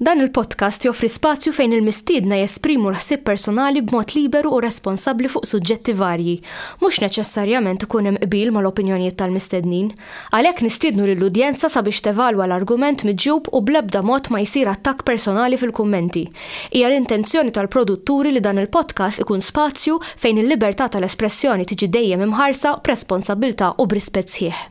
Dan il-podcast joffri spazju fejn il-mistiedna jesprimu l-ħsieb personali b'mod liberu u responsabbli fuq suġġetti varji. Mhux neċessarjament ikun hemm qbil mal-opinjonijiet tal-mistednin. Għalhekk nistiednu lill-udjenza sabiex tevalwa l-argument miġjub u bl-ebda mod ma jsir attakk personali fil-kummenti. Hija l-intenzjoni tal-produtturi li dan il-podcast ikun spazju fejn il-libertà tal-espressjoni tiġi dejjem imħarsa b'responsabbiltà u b'rispett sħiħ.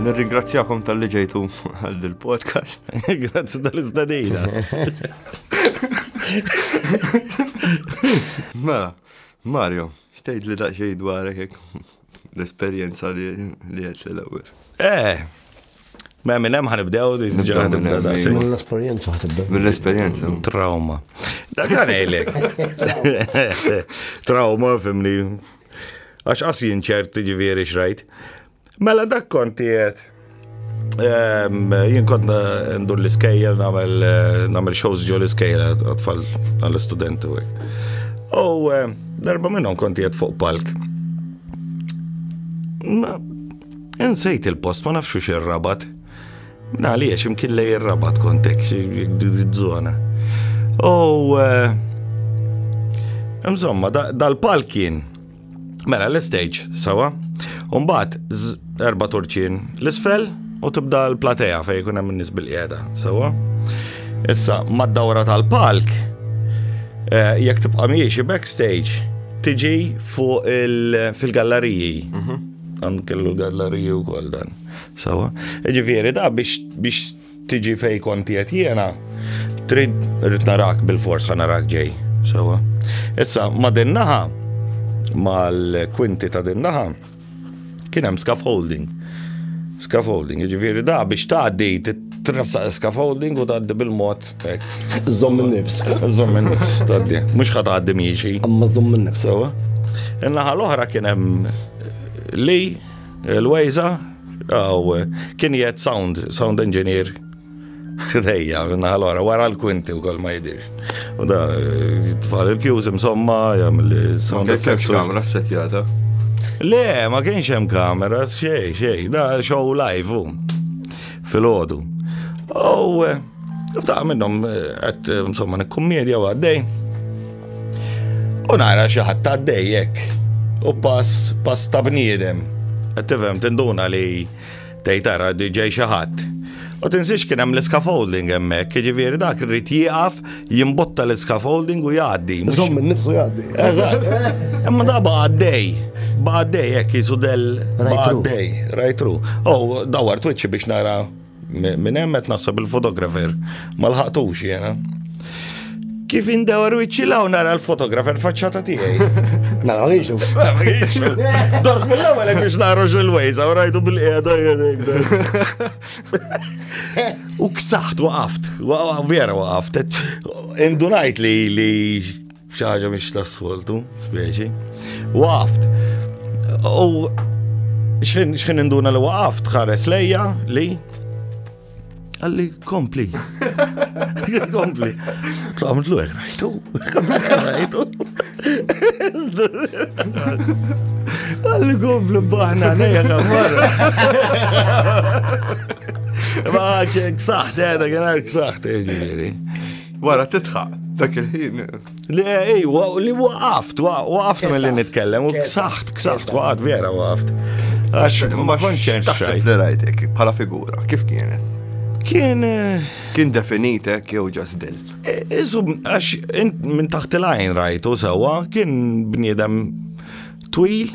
Nirringrazzjakom tal-li ġejtu għal dil-podcast. Grazzi tal-istadina. Mela, Mario, xtejt li daqxej dwarek l-esperienza li għet l-ewel. Eh, Ma minn hemm ħanibdew diġà ħanibda da se. Mill-esperjenza ħatibda. Mill-esperjenza. Trauma. Dak għalek. Trauma fimni. Għax qas jinċert ġifieri xrajt. Mela dak konti qed. Ehm, jien kont ndur l-iskejjel nagħmel eh, shows ġo l-iskejjel għatfall għall-istudenti. U eh, darba minnhom konti qed fuq palk. Insejt il-post, ma nafxu xirrabat. Għaliex, imkien lej ir-rabat kontek, zona. U. Eh, insomma, dal-pal kien. Mela, l-stage, sawa. Umbat, erba turċin l-isfel u tibda l-platea fej kun hemm nis bil-qiegħda, sawa. Issa, mad-dawra tal-palk, eh, jekk tibqa' miexi backstage, tiġi fuq fil-galleriji. Mhm. Dan kellu galleriji wkoll dan. Sawa. Ġifieri da biex biex tiġi fej konti qed jiena trid rrid narak bil-fors ħa narak ġej. Sawa. Issa ma' din naħa mal-kwinti ta' din naħa kien hemm scaffolding. Scaffolding, ġifieri da biex tgħaddi tressaq scaffolding u tgħaddi bil-mod Zomm nifs. Zomm nifs, taddi. Mux ħat għaddi miexi. Amma zomm nifs. Sewa. Innaħa l-oħra kien hemm li l-wejza għaw kien jgħed sound, sound engineer. Dejja, innaħa l-oħra, wara l-kwinti u kol ma jidirx. U da, tfal il-kjuż imsomma, jgħam l-sound effects. Kamra s-setjata. Le, ma kienx hemm kamera, xej, xej, da show live, fil-ħodu. Oh, F'daqqa minnhom qed eh, insomma nikkummedja u għaddej. U nara xi ħadd għaddej hekk. U pass pass ta' bniedem. Qed tifhem tinduna li tgħid ara ġej xi ħadd. U tinsiex kien hemm l-scaffolding hemmhekk, jiġifieri dak irid jieqaf jimbotta l-scaffolding u jgħaddi. Żomm minn nifsu jgħaddi. Eżatt. Imma da baqaddej. Baqaddej hekk jisu del baqaddej, rajtru. Oh, dawar twiċċi biex nara Minn hemm qed naħseb il-fotografer ma lħaqtux jiena. Kif indewar wiċċi law nara l-fotografer faċċata tiegħi. Ma nagħmilx. Dort mill-ewwel hekk biex nara il-wejs, u rajtu bil-qiegħda U ksaħt waqaft, vera waqaft. Indunajt li F'xi ħaġa mhix tas-soltu, speċi. Waqaft. U x'ħin induna li waqaft ħares lejja li għalli kompli. Kompli. Tlamdlu għek, rajtu. Rajtu. Għalli kompli baħna, nejja kamar. Ma ksaħt, għedha, għedha, ksaħt, għedha, Wara titħaq, dak il-ħin. Li ej, li waqaft, waqaft mill li nitkellem, u ksaħt, ksaħt, waqaft vera waqaft. Għax ma konċen xajt. Li rajtek, bħala figura, kif kienet? Kien. Eh, kien definitek jew ġast dil. Eh, isu, għax minn taħt il-għajn rajtu sewa, kien bniedem twil,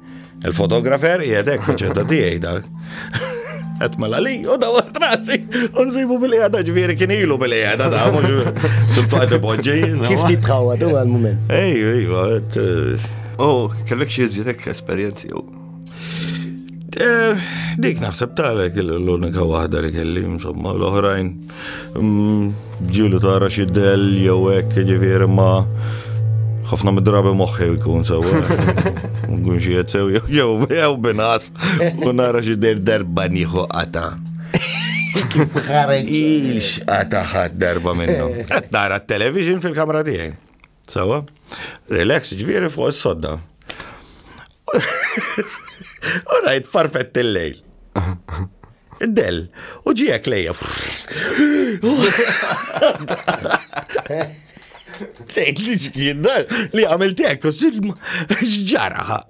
Il-fotografer qiegħed hekk faċċetta tiegħi dak. Qed mela li u daw trasi u nsibu bil-qiegħda ġifieri kien ilu bil-qiegħda da mhux sultu qed ipoġġi. Kif tibħawa tu għal-mument? Ej, ej, għet. U oh, kellek xi iżjed hekk esperjenzi jew? Eh, dik naħseb talek l-unika waħda li kelli, insomma, l-oħrajn. Ġilu tara xi del jew hekk ġifieri ma ħafna mid-drabi moħħi jkun sew. Nkun xi qed sew jew jew jew binas u nara xi del darba nieħu qata. Ħareġ. Ix qata ħadd darba minnhom. Qed nara t-television fil-kamra tiegħi. Sawa? Relax, ġviri fuq s-sodda. U rajt farfett il-lejl. Del, u ġijek lejja. Tejt li xkien li għamil tek, xġaraħa.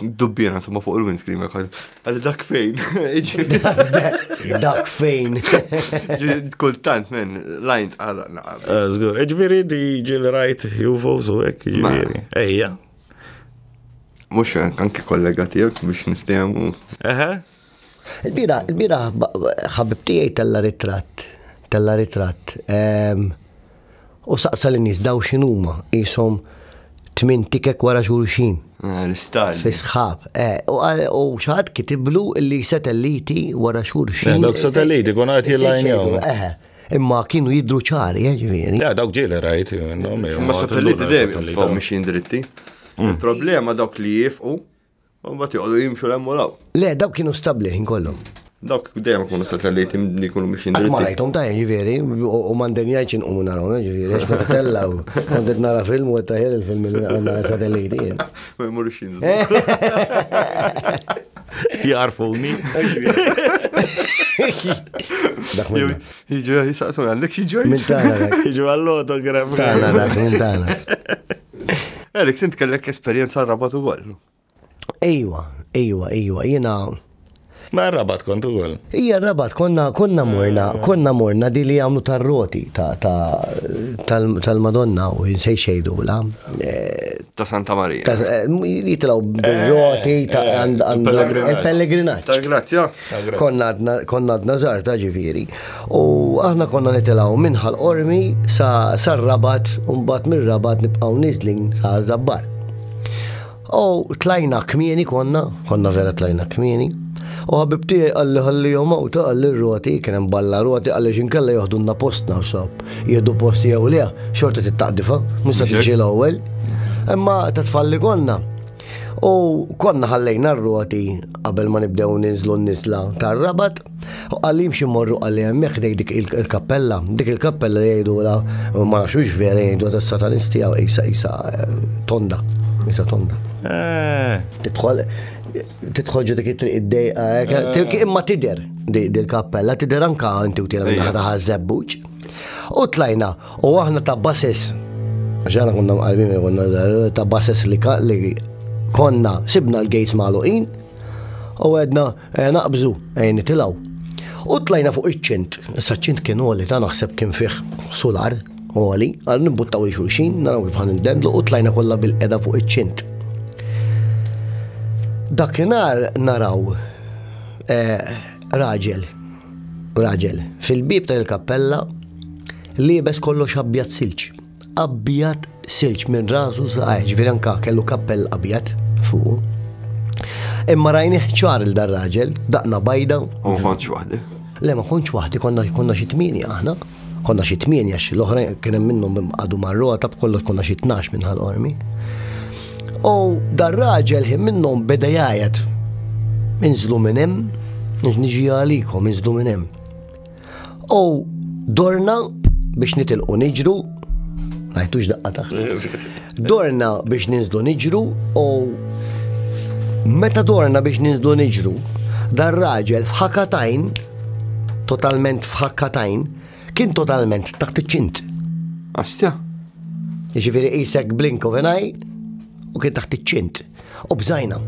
Dubbina, insomma, fuq il-windscreen, għalli dak fejn. Dak fejn. Kultant, men, lajnt għal naqab. Eh, zgur, ġviri di ġil rajt juvo su ek, ġviri. Ejja. Mux, anki kollega tijak biex niftemu. Eħe, Il-bira, il-bira ħabib tiegħi tella ritratt, tella ritratt. Ehm, u saqsa l-nies daw x'inhuma qishom tmien tikek wara xulxin. Eh, l-istal. Fisħab. Eh, u xaħat kitiblu li satelliti wara xulxin. Eh, dawk satelliti kun għat jillajnjaw. Imma kienu jidru ċari, ġviri. Ja, dawk ġili rajt. Ma satelliti dejjem, mxin dritti. Mm. Il-problema dawk li jifqu U mbagħad joqogħdu jimxu l u law. Le, dawk kienu stabbli ħin kollhom. Dawk dejjem ikunu satelliti li jkunu biex jindritti. Ma rajthom ta' ġifieri, u m'għandem jgħid inqumu naraw, eh, ġifieri, għax meta tella u kont qed nara film u qed taħjar il-film li għandna satelliti. Eh. Ma jmurux jinżlu. Jarfuni. Jiġu jisaqsu għandek xi ġoj. Minn tagħna. Jiġu għall-autograf. Tagħna dak minn tagħna. Eriks, int kellek esperjenza rabat u għol. Ejwa, ejwa, ejwa, jena. Ma rabat kont u għol. Ija rabat, konna, konna morna, konna morna di li għamlu tar-roti tal-Madonna u jinsej xejdu la. Eh, ta' Santa Marija. Eh, jitlaw bil-roti eh, ta' il-pellegrinaċ. Tal-grazzja. Konna għadna żgħar ta' ġifieri. U aħna konna nitilgħu minn ħal-qormi sa sar-rabat u mbagħad mir-rabat nibqgħu niżlin sa żabbar. U tlajna kmieni konna, konna vera tlajna kmieni. U ħabibti għalli għalli jom għawta għalli r-roti, kien hemm balla roti għalli xinkella joħdunna postna u sab. Jieħdu posti jew le, xorta tittaqdifa, musa tiġi l-ewwel. Imma ta' tfalli konna, U konna ħallejna r-roti qabel ma nibdew ninżlu n-nisla tar-rabat, u għalli jimxi morru għalli hemmhekk dej dik il-kappella, dik il-kappella li jgħidula ma nafx vera jgħidu ta' satanisti għaw isa isa eh, tonda, isa tonda. Eh. Tidħol tidħol ġu dik it-triq id-dejqa, eh, imma tider dil-kappella, tider anka inti u tira minna ħadha ħażebbuċ. U tlajna, U aħna ta' bases, għaxana konna mqarbin konna ta' bases li konna sibna l-gates maluqin u għedna eh, naqbżu għajni eh, tilaw. U tlajna fuq iċ-ċint, issa ċint kien għoli ta' naħseb kien fih sular għoli, għal nibbuttaw li xulxin, naraw kif għan indendlu u tlajna kollha bil-qeda fuq iċ-ċint. Dakinar naraw eh, raġel Raġel, fil-bieb ta' il-kappella, liebes kollox abjad silġ. Abjad silġ minn rasu saqaj, ġviri anka kellu kappell abjad fuq. Imma rajni ċar il-dar raġel, daqna bajda. U konċ waħdi. Le, ma konċ waħdi, konna xitmini aħna. Konna xi tmienja xi l-oħra kien hemm minnhom qadu marruha ta' b'kollox konna xi tnax minn ħal-qormi. U dar raġel ħin minnhom beda jgħajjat. Inżlu minn hemm, niġi għalikom, inżlu minn hemm. U dorna biex nitilqu niġru, għajtux daqqa taħt. Dorna biex ninżlu niġru u meta dorna biex ninżlu niġru, dar raġel f'ħakatajn, totalment f'ħakatajn, kien totalment taħt iċ-ċint. Astja. Ġifiri isek blink of an eye u kien taħt iċ-ċint. U bżajna.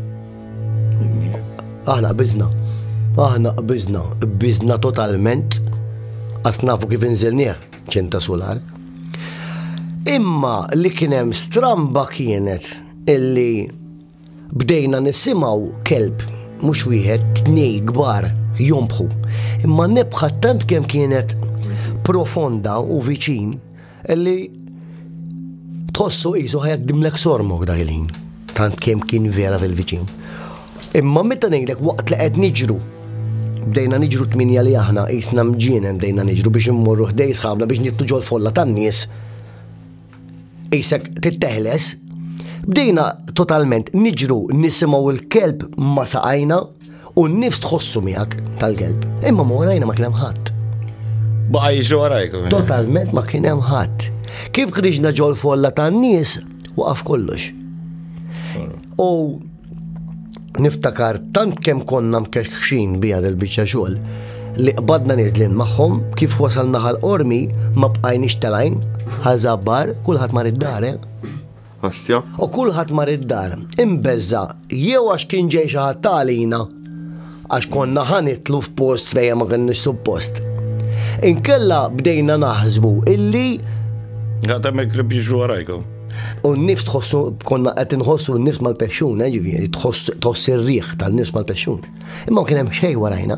Aħna bizna. Aħna bizna. Bizna totalment. Asnafu kif inżilnieh. ċinta sular. Imma li kien hemm stramba kienet illi bdejna nisimaw kelb mhux wieħed tnej kbar jombħu. Imma nebħa tant kemm kienet profonda u viċin illi tħossu qisu ħajak dimlek sormok dak il-ħin. Tant kemm kien vera fil-viċin. Imma meta ngħidlek waqt li qed niġru, bdejna niġru tminja li aħna qisna mġienem bdejna niġru biex immorru ħdej sħabna biex nittu ġol folla tan-nies. Isek titteħles, bdejna totalment niġru nisimgħu l-kelb ma saqajna u n-nifs tħossu miegħek tal-kelb. Imma ma warajna ma kien hemm ħadd. Baqa jiġu warajk. Totalment ma kien hemm ħadd. Kif kriġna ġol folla tan-nies, waqaf kollox. U Niftakar tant kemm konna mkexxin biha del biċċa xogħol li qbadna niżlin magħhom kif wasalna ħal qormi ma bqajniex telajn ħażabbar kulħadd mar id-dar. Eh? U kulħadd mar id-dar imbeżża jew għax kien ġej xi ħadd tagħlina Għax konna ħa nitlu f'post fejn ma kenniex suppost. Inkella bdejna naħsbu illi. Għatem il-klib jiġu għarajkom. U n-nifs tħossu, konna qed nħossu n-nifs mal-pexxun, eh, ġifieri tħoss ir-riħ tal-nifs mal-pexxun. Imma kien hemm xejn warajna.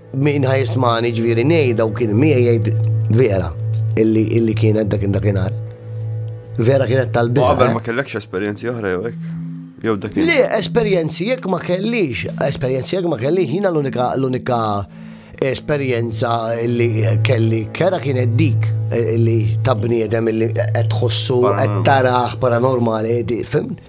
Min ħajismani ġviri nej daw kien miegħi jgħid vera illi illi kienet dak dakinhar. Vera kienet tal-biża. Qabel eh? ma kellekx esperjenzi oħra jew hekk. Jew dak. Le, esperjenzi jekk ma kellix, esperjenzi jekk ma kellix, jiena l-unika l-unika esperjenza li kelli kera kienet dik eh, li ta' bniedem li qed tħossu qed taraħ paranormali, fimt?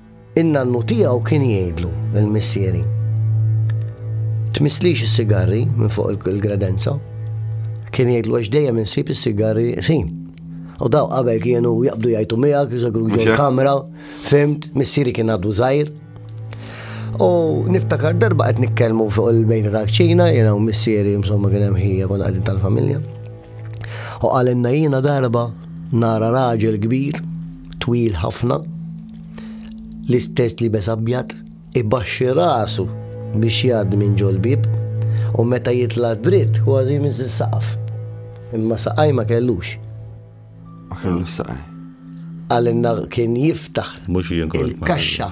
In-nannu tiegħu kien jgħidlu, il-missieri, Tmisslix is-sigarri minn fuq il-kredenza. Kien jgħidlu għax dejjem insib is-sigarri sin. U daw qabel kienu jaqbdu jajtu miegħek, jżagru ġol kamra, fimt, missieri kien għadu żgħir. U niftakar darba qed nitkellmu fuq il-bejta ta' ċina, jiena u missieri insomma kien hemm ħija kon qegħdin tal-familja. U qalinna jiena darba nara raġel kbir twil ħafna, l-istess libes abjad, ibaxxi rasu biex jgħaddi minn ġol bib u meta jitla dritt kważi minn saqaf. Imma saqaj ma kellux. Ma kellux saqaj. Għalinna kien jiftaħ il-kaxxa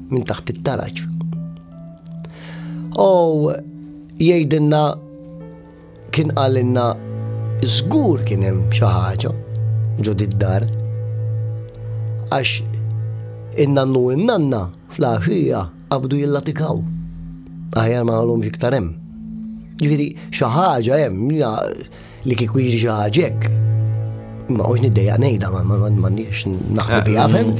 minn taħt it-taraġ. U jgħidilna kien qalilna żgur kien hemm xi ħaġa ġo dar Għax in-nannu in-nanna fl-għaxija qabdu jillatikaw. Aħjar ma għalhomx iktar hemm. Ġifieri xi ħaġa hemm Li kieku jiġi xi ħaġa hekk, ma għox niddejja ngħidha ma m'għandniex naħlu biha fem.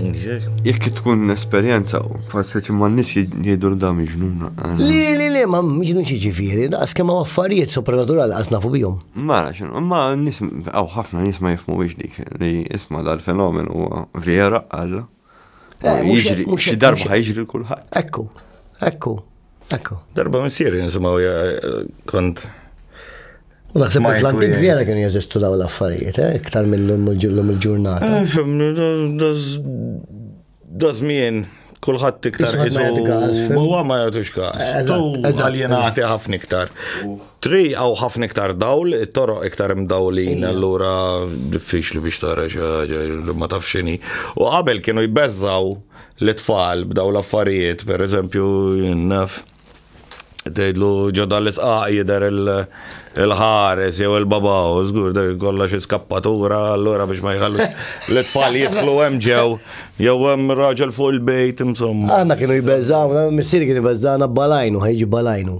Jekk tkun esperjenza, bħal speċi ma nis jgħidu da miġnuna. Li li li ma miġnun xi ġifieri, daqs kemm affarijiet sopranaturali qas nafu bihom. Ma xinu, ma nis għaw ħafna nis ma jifmu biex dik li isma dal-fenomen huwa vera għalla. Eh, jiġri, xi darba ħajġri l-kulħadd. Ekku, ekku, ekku. Darba missier jinsimaw kont. U naħseb li fl-antik vera kien jeżistu daw l-affarijiet, eh, iktar mill-lum il-ġurnata. Eh, Dazmien, kullħat iktar jizu. Huwa ma jagħtux każ. Tu għaljenati ħafna iktar. Tri għaw ħafna iktar dawl, it-toroq iktar imdawlin, allura diffiċli biex tara xaġa li ma tafxini. U qabel kienu jbeżżaw l-tfal b'daw l-affarijiet, per eżempju, naf, tgħidlu ġodda l-isqaq jidher il-ħares jew il-baba, u żgur dak kollha xi skappatura allura biex ma jħallu l-tfal jidħlu hemm ġew, jew hemm raġel fuq il-bejt, insomma. Għanna kienu jbeżżaw, missieri kienu jbeżżawna balajnu, ħejġi balajnu.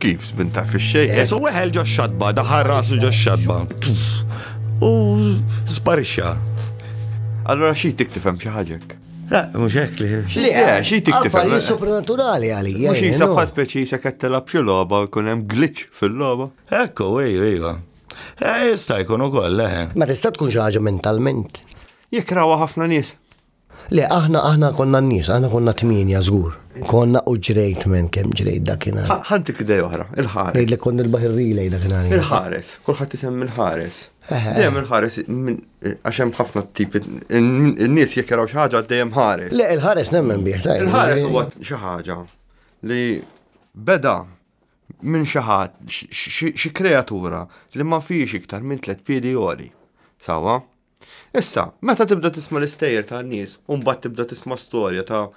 Kif żbin ta' fix-xejn? Jesu weħel ġo xadba, daħar rasu ġo xadba. U sparixxa. Allora xi tiktib hemm xi ħaġek? La, mhux hekk li. Li eh, xi tiktib hemm. Affarijiet supernaturali għalija. Mhux jisa bħal speċi se qed tilab xi logħba u jkun hemm glitch fil-logħba. Ekku, ejju, ejju. Eh, jista' jkun ukoll, eh. Ma tista' tkun xi ħaġa mentalment. Jikrawa ħafna nies. Le, aħna aħna konna n-nies, aħna konna tmienja żgur. Konna u ġrejt men kemm ġrejt dakinhar. Ħantik idea oħra, il-ħares. Ngħidlek kont il-baħir relay dakinhar. Il-ħares, kulħadd isem il-ħares. Dejjem il-ħares għax hemm ħafna tipi n-nies jekk jaraw xi ħaġa dejjem ħares. Le, il-ħares nemmen bih. Il-ħares huwa xi ħaġa li beda minn xi ħadd xi kreatura li ma fiex iktar minn tliet piedi għoli. Sawa? Issa, meta tibda tisma' l-istejjer ta' nies u mbagħad tibda tisma' storja ta'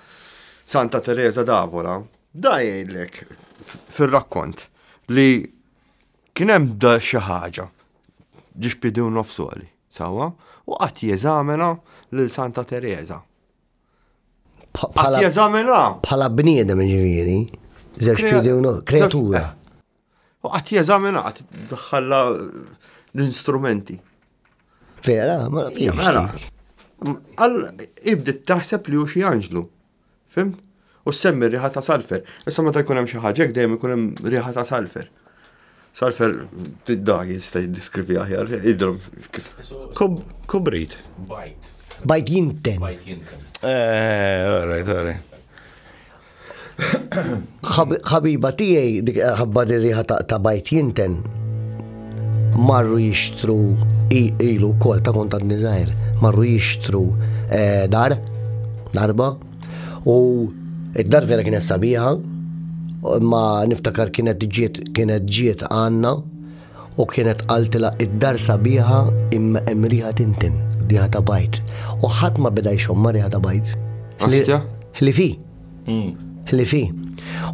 Santa Teresa d'Avola, da jgħidlek fir-rakkont li kien hemm da xi ħaġa ġiex pidu nofsoli, sawa, u qatt jeżamina lil Santa Teresa. Qatt jeżamina. Bħala bniedem ġifieri, żewġ pidu kreatura. U qatt jeżamina, qatt daħħalla l-instrumenti. Vera, ma fija. Mela, għal ibdit taħseb li hu xi anġlu. Fim? U semmi riħa ta' salfer. Issa meta jkun hemm xi ħaġa dejjem ikun hemm riħa ta' salfer. Salfer tidda jista' jiddiskrivi aħjar, idrom kif. Kubrit. Bajt. Bajt jinten. Bajt jinten. Eh, alright, alright. ħabiba tiegħi dik ħabba riħa ta' bajt jinten marru jixtru ilu kol ta' kontat nizajr marru jixtru eh, dar darba u id-dar vera kienet sabiħa ma niftakar kienet ġiet kienet ġiet għanna U kienet qaltilha id-dar sabiħa imma hemm riħa tintin, riħa ta' bajt. U ħadd ma beda jxomma riħa ta' bajt. Ħli- Ħlifi. Hmm. Ħlifi.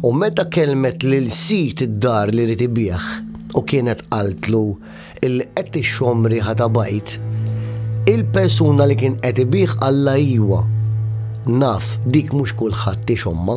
U meta kelmet lil sid id-dar li rid ibih u kienet qaltlu illi qed tixxomm riħa ta' bajt, il-persuna li kien qed ibih qalla iwa. Naf, dik mhux kulħadd tixomma.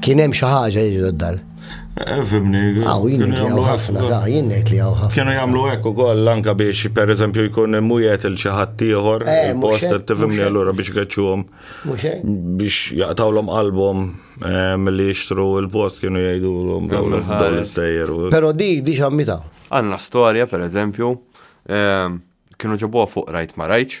Kien hemm xi ħaġa jiġu d-dar. Eh, fimni. Għaw, jien li għaw ħafna, da, jien li għaw ħafna. Kienu jamlu ekku koll, anka biex, per eżempju, jkun mujet il-ċaħat tiħor, eh, il-post, t-fimni għallura biex għacċuħom. Biex jaqtawlom album eh, mill-li jishtru il-post kienu jgħidu l-om dawl l-istajer. Pero di, di xammita. Għanna storja, per eżempju, kienu ġabuħa fuq rajt ma rajċ,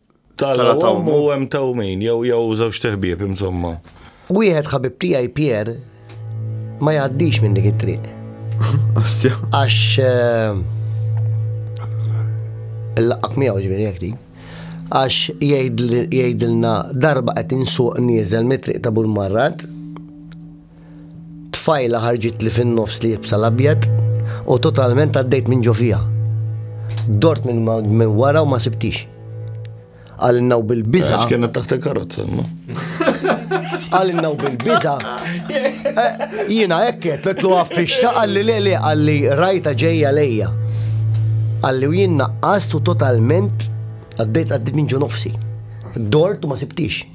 Tala tawm u hemm tawmin, jew jew żewġ teħbieb insomma. Wieħed ħabib tiegħi Pier ma jgħaddix minn dik it-triq. Astja. Għax eh, il-laqaq miegħu ġifieri jekk dik. Għax jgħidilna darba qed insuq nieżel mit-triq ta' Burmarrat Tfajla ħarġitli fin-nofs li jibsa l-abjad u totalment għaddejt minn ġo fija. Dort minn min wara u ma sibtix. Għalinna u bil-biża. Għax kienet taħt il-karozza, no? Għalinna u bil-biża. Eh, Jina ekket, petlu għaffixta għalli le le għalli rajta ġeja lejja. Għalli u jinna għastu totalment għaddejt għaddejt minn ġo nofsi. Dort u ma sibtix.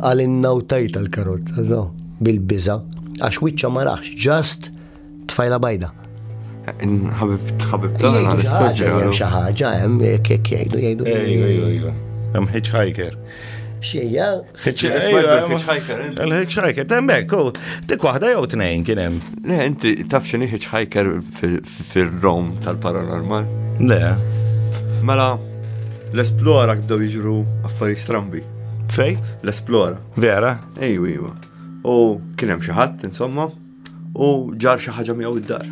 Qal innawtajt tal-karozza, no, bil-biża, għax wiċċa ma raħx, ġast tfajla bajda. Ħabib, ħabib, tagħna l-istaġġel. Hemm xi ħaġa hemm jekk jekk jgħidu jgħidu. Ejju, ejju, ejju. Hemm hitchhiker. Xejja. Hitchhiker. Il-hitchhiker, temmek, dik waħda jew tnejn kien hemm. Le, inti taf x'inhi hitchhiker Fir-rom tal-paranormal? Le. Mela, l-esplora kibdew jiġru affarijiet strambi. Fej? L-esplora. Vera? Ejju, ejju. U kien hemm xi ħadd, insomma, u ġar xi ħaġa miegħu id-dar.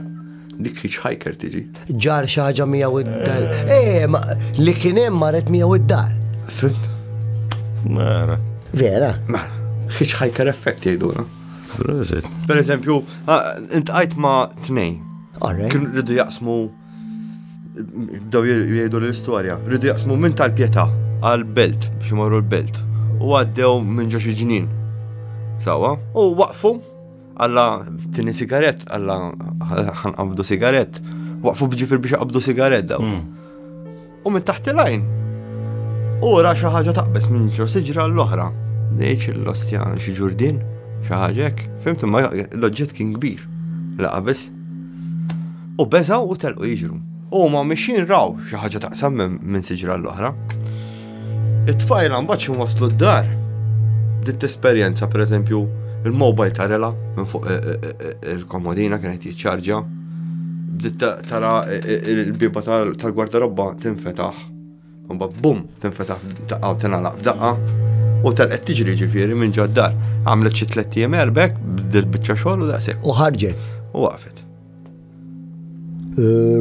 Dik hitchhiker tiġi. Ġar xi ħaġa miegħu id-dar. Eh, ma li kien hemm marret miegħu id-dar. Fimt? Mara. Vera? Mela, hitchhiker effect jgħidulha. Prosit. Per eżempju, intqajt ma tnej. Kien rridu jaqsmu bdew jgħidu l-istorja, rridu jaqsmu minn tal-pjeta għal-belt biex imorru l-belt u għaddew minn ġo xi ġnien. Sawa, u waqfu għalla tini sigaret, għalla ħanqabdu sigaret, waqfu bġifir biex qabdu sigaret daw. Hmm. U minn taħt il-għajn, u ra xi ħaġa taqbeż minn ġo siġra l-oħra. Dejċ l-ostja xi ġurdin, xi ħaġek, fimt imma l-oġġett kien kbir la qabeż. U beżaw u telqu jiġru. U ma mixin raw xi ħaġa taqsam minn siġra l-oħra. It-tfajla mbagħad xi waslu d-dar. Dit esperjenza pereżempju il-mobile tarela minn fuq eh, eh, eh, il-komodina kienet jiċċarġa Bdiet tara il-biba tal-gwardarobba tinfetaħ. Mba bum, tinfetaħ daqqa u tinalaq f'daqqa. U tal-qed tiġri ġifieri minn ġaddar. Għamlet xi tliet ijiem erbek, bdiet biċċa xogħol u daqshekk. U ħarġet. U waqfet. Eh,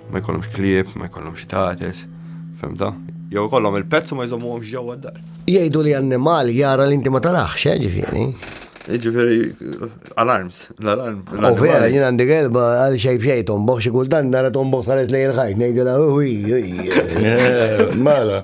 Ma jkollhomx klieb, ma jkollhomx tates, femta? Jew kollhom il-pezz u ma jżommuhomx ġewwa d-dar. Jgħidu li annimal jara li inti ma tarax, eh, ġifieri. Ġifieri alarms, l-alarm. U vera, jien għandi gelba għal xejn xejn tomboħ xi kultant nara tomboħ saret lejn il-ħajt ngħidilha uwi. Mala.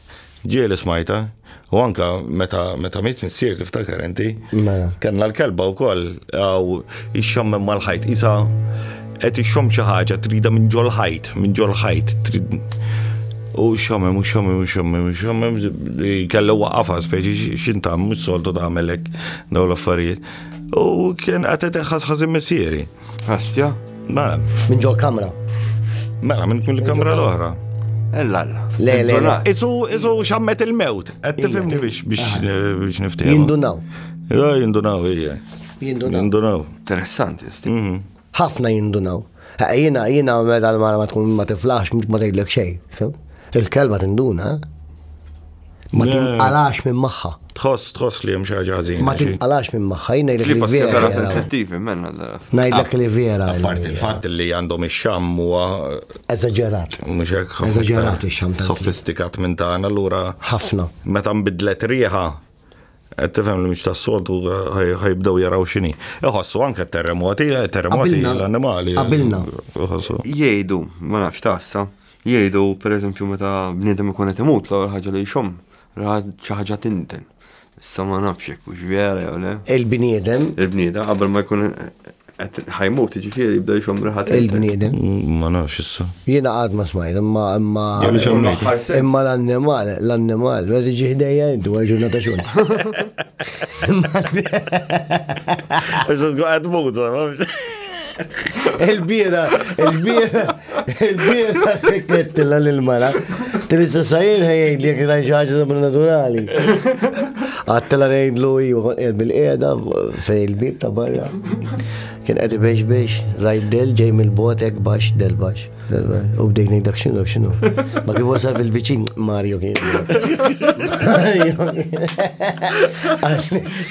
Ġieli smajta, u anka meta meta miet missier tiftakar inti. Mela. Kenna l-kelba wkoll għaw ixxammem mal-ħajt isa qed ixxomm xi ħaġa trida minn ġol ħajt, minn ġol ħajt trid u xammem, u xammem, u xammem, u xammem, kellu waqafa, speċi xintam, mux soltu ta' melek, daw l-affarijiet. U kien għatet ħasħazin messieri. Astja? Mela. Minn ġol kamra. Mela, minn kull kamra l-oħra. Ella, le, le, le. Isu, isu xammet il-mewt. Għed tifimni biex biex niftijem. Jindunaw. Ja, jindunaw, ija. Jindunaw. Jindunaw. Interessanti, sti. Mhm. Ħafna jindunaw. Jina, jina, mela l-mara ma tkun ma tiflax, ma tgħidlek xej. Il-kelma tinduna. Eh? Ma tinqalax minn magħha. Tħoss, tħoss li hemm xi ħaġa ħażin. Ma tinqalax minn magħha, jien ngħidlek li vera. Sensittivi minn Ngħidlek li vera. Apart il-fatt li għandhom ix-xam huwa eżaġerat. Mhux hekk. Eżaġerat ix-xam. Sofistikat minn tagħna allura. Ħafna. Meta nbidlet riħa qed tifhem li mhux tas-soltu ħajbdew jaraw x'inhi. Iħossu anke terremoti, terremoti l-annimali. Qabilna. Jgħidu, ma nafx tassa. Jgħidu, pereżempju, meta bniedem ikun qed imut l-ewwel ħaġa li jxomm ra xi ħaġa tinten. Issa ma nafx jekk hux vera jew le. Il-bniedem. Il-bniedem qabel ma jkun qed ħajmut, jiġifieri jibda jxomm riħa tinten. Il-bniedem. Ma nafx issa. Jiena qatt ma smajt, imma imma imma l-annimal, l-annimal, meta tiġi ħdejja inti wara ġurnata xogħol. Għax tkun qed tmut, Il-bira, il-bira, Il-bira sikkettilla l-mara, trissa sajin ħajjajt li jekk rajt ħaġa sobrenaturali. Għattela ngħidlu iju qed bil-qiegħda fej il-bib ta' barra. Kien qed biex biex rajt del ġej mill-botek baxx del baxx. U bdej ngħid dak x'inhu x'inhu. Ma kif wasal fil-viċin Mario kien.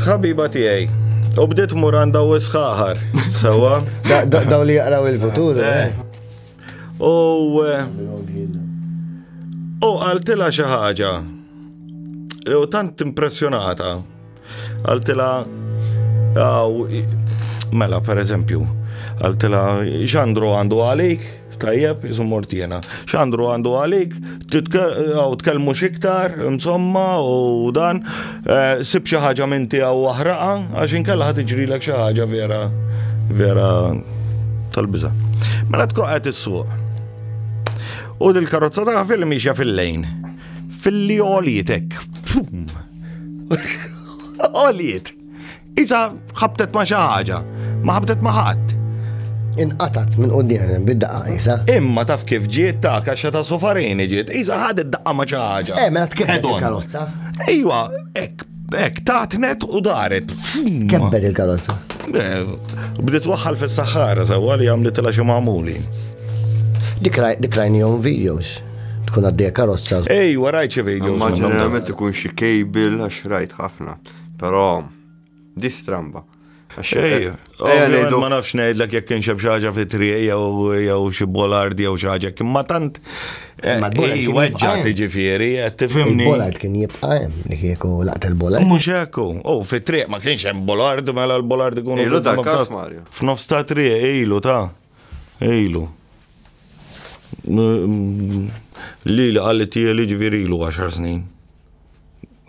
Ħabiba tiegħi, u bdiet muranda u sħaħar, sewa. Daw li jaqraw il-futur. Eh. Eh. U. Eh, u għaltila xi ħaġa. U tant impressjonata. Għaltila. Mela, per eżempju, għaltila xandru għandu għalik. Tajjeb, jisum mortina. Xandru għandu għalik, għaw tkellmu xiktar, insomma, u dan, eh, sib xaħġa minn tiegħu waħraqa, għax inkella ħad iġrilek xaħġa vera, vera tal-biża. Mela tkun qed is-suq. U dil-karozza ta' film miexja fil-lejn. Fil-li għolietek. Għoliet. Isa ħabtet ma' xi ħaġa, ma ħabtet ma' ħadd. Inqatat minn quddiem bid-daqqa isa. Imma taf kif ġiet ta' kaxxa ta' sofarini ġiet, isa ħadet daqqa ma' xi ħaġa. Eh, mela tkellem il-karozza. Ejwa, hekk Ek, tatnet u daret. Kebbet il-karozza. Bdiet waħħal fis-saħħara sewwa li għamlet il xi magħmuli. Dikrajni jom videos tkun għaddej karozza. Ej, warajt xi videos. Ma ġeneralment ikun xi kejbil għax rajt ħafna. Però, di stramba. Xej, eh, ma nafx ngħidlek jekk kien xeb xaġa fi trie jew xi bolard jew xaġa kien ma tant eh, weġġa tiġifieri qed tifhimni. Bolard kien jibqa' hemm li kieku laqt il-bolard. Mhux hekk hu, oh, fi triq ma kienx hemm bolard mela l-bolard ikun. Ilu dak Mario. F'nofs ta' trie ilu ta' ilu. Li li qalli tiegħi ġifieri ilu 10 snin.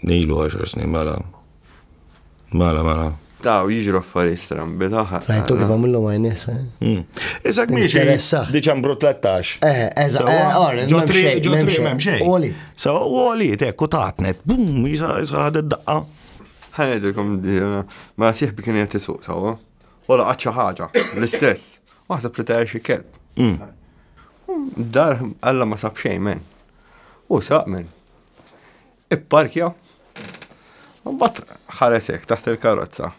Ilu għaxar snin mela. Mela, mela. Ta' u jiġru affarijiet strambi taħħa. Rajtu kif għamillu ma jnisa. Hmm. Isak miex. Diċembru 13. Eh, eża, għarri. Ġotri, ġotri, mem xej. Oli. Sa, oli, tekku taħtnet. Bum, jisa, jisa għad id-daqqa. Ħajdilkom, ma siħbi kien jgħet jisuq, sawa. Ola għadċa ħaġa, l-istess. Waħseb li ta' xie kelb. Hmm. Dar, għalla ma sab xej, men. U saq, men. Ipparkja. Mbagħad ħaresek taħt il-karozza.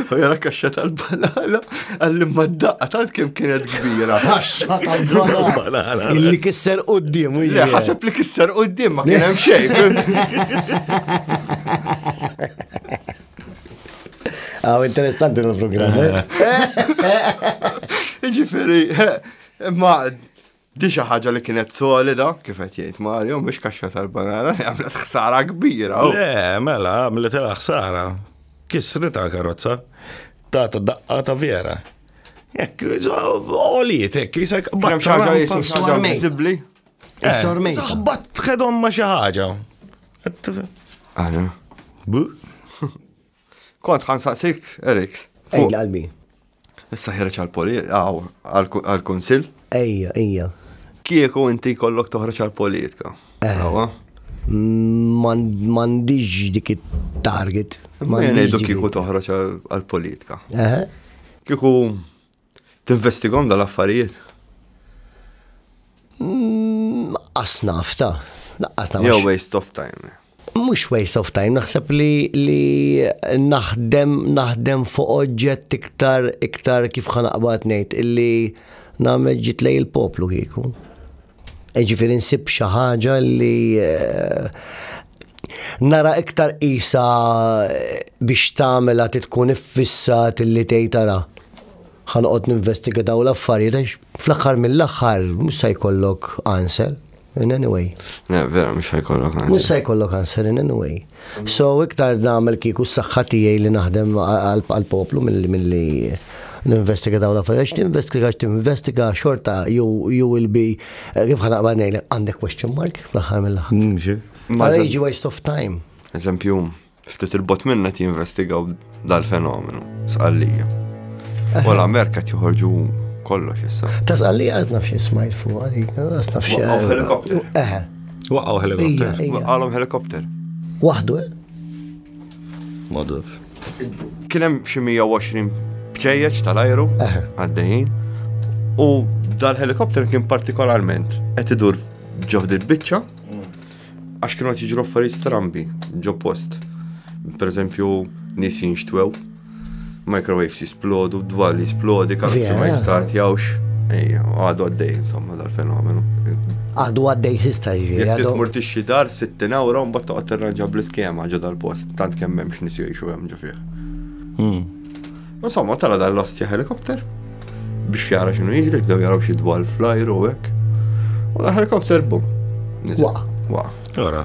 U jara kaxxa tal-banana għalli ma d-daqqa tant kem kienet kbira. Kaxxa tal-banana. Illi kisser u d-dim. Le, ħaseb li kisser u d-dim ma kienem xej. Ah, interessanti l-programm. Eh? Ġifiri, ma Di xi ħaġa li kienet solida, kif qed jgħid Mario, mhux kaxxa tal-banana li għamlet ħsara kbira. Oh. Le, mela, għamlet ilha ħsara. Kisrita karozza, ta' ta' daqqa ta' vera. Jekk, oliet, jekk, jisek, baċċaġa jisu xaġa vizibli. Sormej. Eh, Zaħbat tħedhom ma xi ħaġa. Għana. Bu? Kont ħan saqsik, Eriks. Fuq qalbi. Issa ħireċ għal-poli, għal-konsil. Ejja, ejja. Kieku inti kollok toħroċ għal-politika. Eh. Mandiġ dik it-target. Ma jenejdu kieku toħroċ għal-politika. Eh. Kieku Tinvestigom dal-affarijiet? Mm, As nafta. Laqqas nafta. Jew waste of time. Mux waste of time, naħseb li li naħdem naħdem fuq oġġett iktar iktar kif ħanaqbad ngħid illi nagħmel ġitlej il-poplu kieku. Jiġifieri nsib xi ħaġa li nara iktar qisha biex tagħmilha tkun iffissat li tgħid ara ħanoqgħod ninvestiga dawn l-affarijiet għax fl-aħħar mill-aħħar mhux se jkollok answer in any way. Vera mhux se jkollok answer. Mhux se jkollok answer in any way. So iktar nagħmel kieku s-saħħa tiegħi li naħdem għall-poplu milli ninvestiga dawn l-affarijiet, tinvestiga tinvestiga xorta jew jew il-bi eh, kif ħana qbad ngħidlek għandek question mark fl-aħħar mill-aħħar. Mm, Ma jiġi waste of time. Eżempju, ftit il-bot minna ti investigaw dal-fenomenu, sqallija. U l-Amerika tjoħorġu kollox issa. Ta' sqallija għad nafx smajt fuq għalik, għad nafx. Waqgħu helikopter. Eħe. Waqgħu helikopter. Waqgħu helikopter. Waħdu, eh? Madaf. Kienem xi 120 bċejjeċ tal-ajru għaddejjin u dal-helikopter kien partikolarment qed idur ġoħd il-biċċa Għax kienu qed jiġru affarijiet strambi ġo post. Per eżempju, nies jinxtwew, microwaves jisplodu, dwar li jisplodi, karozzi ma jistatjawx. Għadu għaddej, insomma, dal-fenomenu. Għadu għaddej sista jiġi. Jek titmur tixxi dar, 60 euro, mbatt toqgħod terranġa bl-iskema ġo dal-post, tant kemm hemmx nies jgħixu hemm ġo fih. Hmm. Insomma, tala dan l-ostja helikopter biex jara xinu jiġri, bdew jaraw xi dwar flajru u hekk. U dan helikopter bum. Waq. Waq. Ora.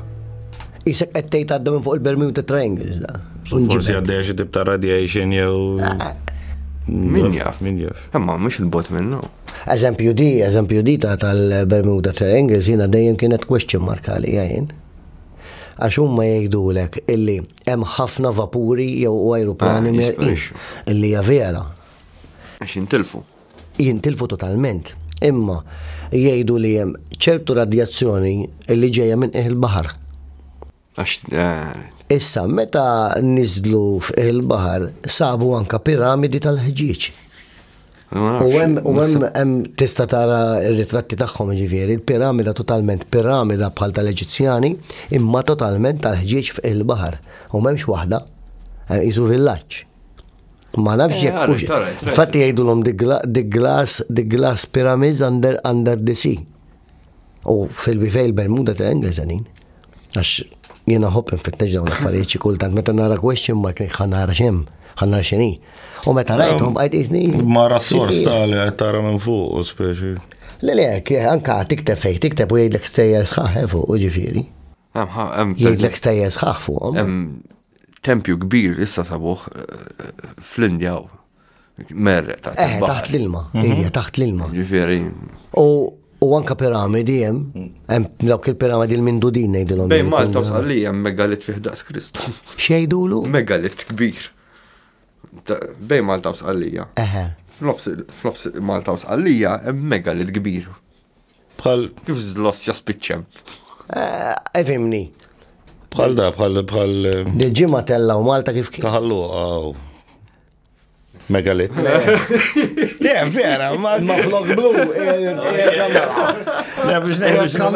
Isek qed tgħid għadda minn fuq il-Bermuda Triangles da. Forsi għaddejja xi tibta radiation jew. Ah. Min jaf. Min jaf. Imma mhux il-bot minnu. Eżempju di, eżempju di ta' tal-Bermuda Triangles jiena dejjem kienet question markali jgħin. Għax huma jgħidulek illi hemm ħafna vapuri jew u ajruplani ah, merqix illi hija vera. Għax jintilfu. Jintilfu totalment. Imma jgħidu li hemm ċertu radjazzjoni illi ġejja minn qiegħ il-baħar. Għax eh, Issa, meta nizlu f'qiegħ il-baħar, sabu anka piramidi tal-ħġieġ. U hemm tista' tara r-ritratti tagħhom ġifieri, il-piramida totalment piramida bħal tal-Eġizzjani, imma totalment tal-ħġieġ fil-baħar. U m'hemmx waħda, jisu eh, villaġġ. Ma nafx eh, jekk. Fatti jgħidulhom the glass, the glass pyramids under, under the sea. U fil-bivej il-Bermuda Triangle zanin. Għax jena hopp nfittex dawn l-affarijiet xi kultant meta nara question mark ħan nara xem, ħan nara xini. U meta rajthom bqajt iżni. Mara s-sors tal tara minn fuq, speċi. Le le, anka tikteb fejk, tikteb u jgħidlek stejjer sħaħ eh, fuq u ġifieri. Jgħidlek stejjer sħaħ fuqhom. Tempju kbir issa sabuħ eh, fl-Indja Merre, taħt eh, taħt l-ilma, mhm. hija taħt l-ilma. Ġifieri. U anka piramidi hemm, mm. hemm dawk il-piramidi l mindudin ngħidilhom. Bejn Malta u Salli hemm megalit fih daqs Kristu. Xejdulu? Megalit kbir. Bejn Malta u Sqallija. Eħe. F'nofs Malta u Sqallija hemm megalit kbir. Bħal kif żloss jaspiċċem. Eh, Evimni. Bħal da, bħal bħal. Dil-ġimgħa tella u Malta kif. Taħallu għaw. Megalit. Le, vera, ma ma flok blu. Le, biex nejdu xinu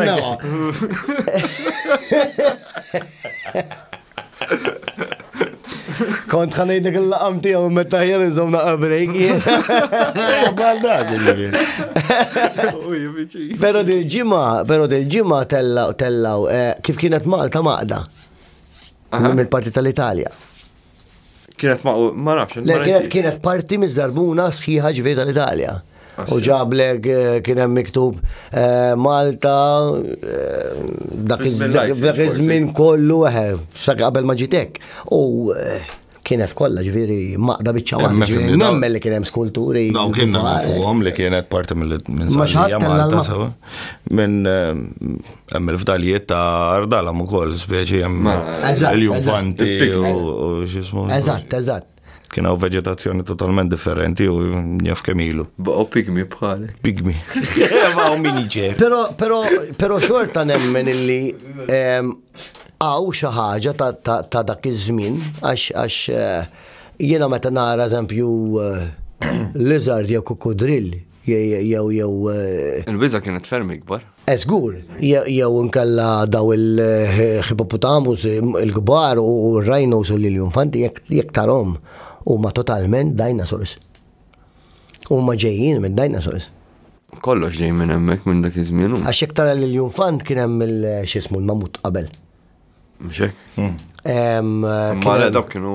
Kont ħanejdek il-laqam tijaw meta ħjar nżom naqa break. Pero dil-ġima, pero dil-ġima tellaw, tellaw, eh, kif kienet Malta maqda. Mill-parti tal-Italja. Kienet ma' ma nafx. Le kienet kienet parti miż-żarbuna sħiħa ġifieri tal-Italja. U ġablek eh, kien hemm miktub eh, Malta eh, dak iż-żmien kollu eħe, sa qabel ma ġitek. U kienet kollha ġifieri maqda biċċa waħda. Nemmen li kien hemm skulturi. Dawn kien fuqhom li kienet parti minn Malta sewa. Minn eh, Hemm il-fdalijiet ta' ardalam ukoll, speċi hemm il-juvanti u x'ismu. Eżatt, eżatt. Kien hawn veġetazzjoni totalment differenti u jaf kemm ilu. Baqgħu pigmi bħal. Pigmi. Baqgħu min iġer. Però però però xorta nemmen illi ehm, hawn xi ħaġa ta' dak iż-żmien għax għax eh, jiena meta nara eżempju eh, lizard jew kukudrill Jew jew. Il-biża' kienet ferm ikbar. Eh żgur, jew inkella daw il-ħipoputamus il-kbar u r-rhinos u l-iljufanti jekk tarhom huma totalment dinosaurs. Huma ġejjin minn dinosaurs. Kollox ġej minn hemmhekk minn dak iż-żmien. Għax jekk tara l-iljunfant kien hemm il-xismu l-mamut qabel. Mhux hekk? Ma dawk kienu.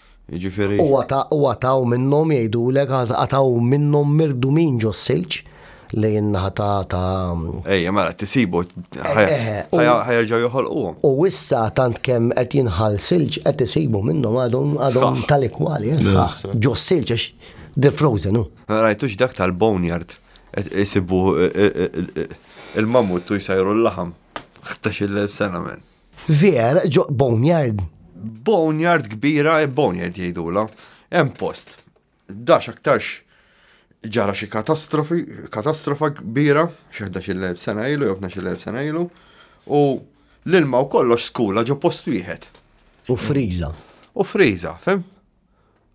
Jiġifieri. U għataw minnhom jgħidulek għataw minnhom mirdumin ġos-silġ li jinnaħa ta' ta' Ejja, mela tisibu ħajerġgħu joħolquhom. U issa tant kemm qed jinħal silġ qed isibu minnhom għadhom għadhom tal-ikwali ġos-silġ għax the frozen hu. Rajtux dak tal-boneyard isibu il-mammut u jsajru l-laħam. 11,000 sena men. Veer ġo boneyard. Boneyard kbira, e boneyard jgħidula. Hemm post. Dax aktarx ġara xi katastrofi, katastrofa kbira, xi 11 sena ilu, jew 12 sena ilu, u l-ilma u kollox skula ġo post wieħed. U friża. U friża, fem?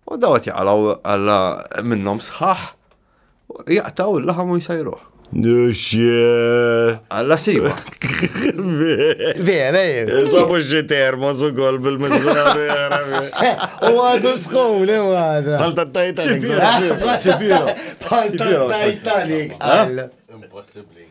U daw qed jaqalgħu alla minnhom sħaħ, jaqtaw il-laħam u jsajruh. Alla siwa. Vera, eh. Sabu xie termo su gol bil-mizguna vera. U għadu skum, li għadu. Palta Titanic. Palta Titanic. Impossibli.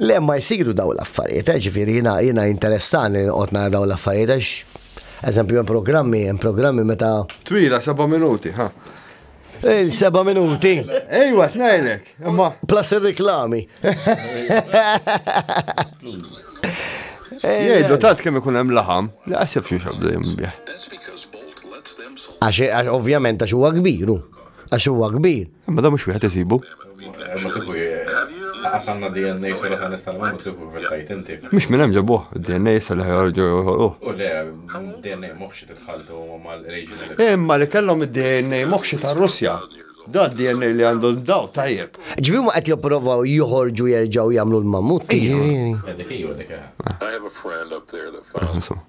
Le, ma jsiru dawn l-affarijiet, eh, ġifieri jiena jiena jinteressani noqgħod nara dawn l-affarijiet għax eżempju hemm programmi, hemm programmi meta Twila seba' minuti, ha. il-seba' minuti Ejwa, tnejlek. Imma plus ir-riklami. jgħidu tant kemm ikun hemm laħam, li qasib xi xabda jimbieħ. Għax għax ovvjament għax huwa kbiru. Għax huwa kbir. Imma da mhux wieħed isibu. Mhux minn hemm ġabuh, id-DNA issa li ħajorġu joħolqu. U le, DNA moħxi titħaltu mal-reġim. Imma li kellhom id-DNA moħxi tar-Russja. Da DNA li għandu daw tajjeb. Ġviri ma qed jipprovaw joħorġu jerġgħu jagħmlu l-mammut. I have a friend up there that found.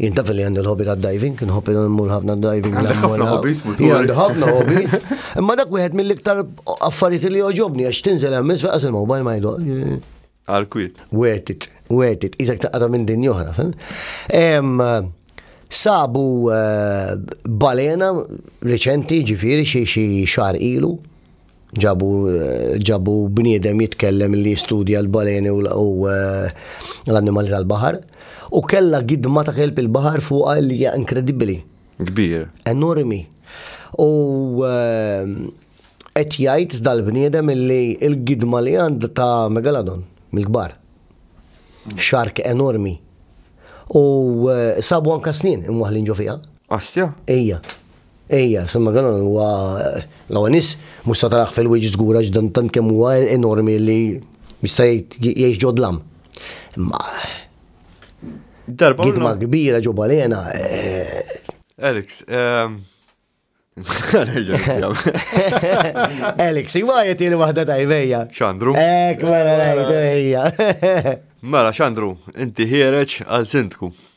Jien taf li għandi l-hobby ta' diving, nħobb il-mur ħafna diving. Għandek ħafna hobbies futur. Għandek ħafna hobby. Imma dak wieħed mill-iktar affarijiet li joġobni għax tinżel hemm isfel qas il-mobile ma jidol. Għal-kwit. Worth it, worth it. Iżak taqqa minn din joħra, fem? Sabu eh, balena reċenti ġifiri xie xie xar ilu Ġabu, ġabu bniedem jitkellem li jistudja l-baleni u l-annimali tal-bahar u kella gidma ta' kelb il-bahar fuqa li hija inkredibbli. Kbir. Enormi. U ehm, qed jgħid dal-bniedem li l-gidma li għand ta' megalodon mill-kbar. Xark enormi. U eh, sabu anka snin imwaħlin ġo fiha. Astja? Ija. Ejja, San Magalon huwa l-ewwel nies mhux se tarah fil-wiċċ żgur għax dan tant kemm huwa enormi li jista' jgħix ġo dlam. Imma Darba gidma kbira ġo balena. Alex, Alex, ma jgħet jeni wahda tajbeja. Xandru? Ek, mela rajt, ejja. Mela, xandru, inti ħiereċ għal sindku.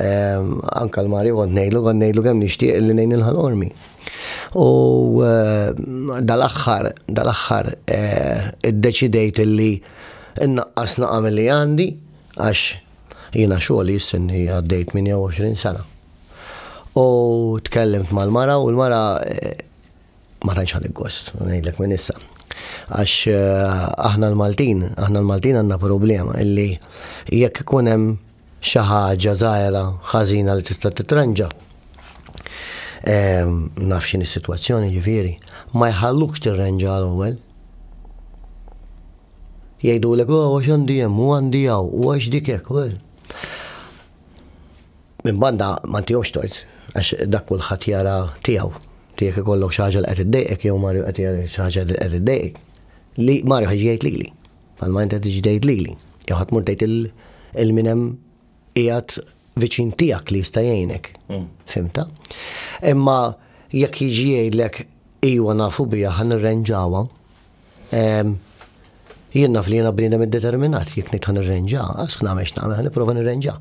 Anka l-Mari kont nejlu, kont nejlu kemm nixtieq li nejn il-ħal ormi. U eh, dal-axħar, dal-axħar, eh, id-deċidejt li innaqqas naqam li għandi, għax jina xogħli jissinni għaddejt 28 sena. U tkellimt mal-mara u l-mara eh, ma tantx ħadd gost, ngħidlek minn issa. Għax eh, aħna l-Maltin, aħna l-Maltin għandna problema illi jekk ikun hemm xi ħaġa żgħira ħażina li tista' titranġa. Ehm, naf x'in is-sitwazzjoni ġifieri, ma jħallux tirranġa l-ewwel. Jgħidu l oh, għax għandi hemm u għandi hawn u għax dik hekk. Minn banda ma ntihomx tort għax dak kulħadd jara tiegħu. Inti jekk ikollok xi ħaġa li qed iddejqek jew Mario qed jara xi ħaġa li qed iddejqek, li Mario ħa jiġi jgħid lili. Bħalma inti qed tiġi tgħid lili. Jew ħa tmur tgħid il min hemm qiegħed viċin tiegħek li jista' jgħinek. Mm. Fimta? Imma jekk jiġi jgħidlek iwa nafu biha ħan irrenġawha. Ehm, jien naf li jiena bniedem iddeterminat jekk nitħan irrenġa, għax nagħmel x'nagħmel, nipprova nirrenġa.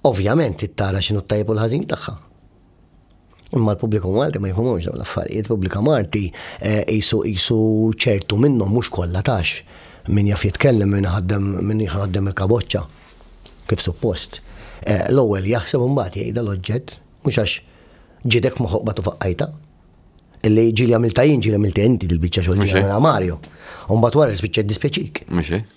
Ovvjament tara x'inhu t-tajjeb u l-ħażin tagħha. Imma l-pubbliku Malti ma jifhmux dawn l-affarijiet, il-pubblika Malti eh, isu isu ċertu minnhom mhux kollha tax min jaf jitkellem min ħaddem min ħaddem il-kaboċċa kif suppost. Eh, l-ewwel jaħseb imbagħad jgħidha l-oġġett mhux għax ġidek moħoq batu faqqajta. Illi ġili għamilta jien ġili għamilta inti dil-biċċa xogħol ġili Mario. Umbat wara l-spiċċa dispjaċik. Mhux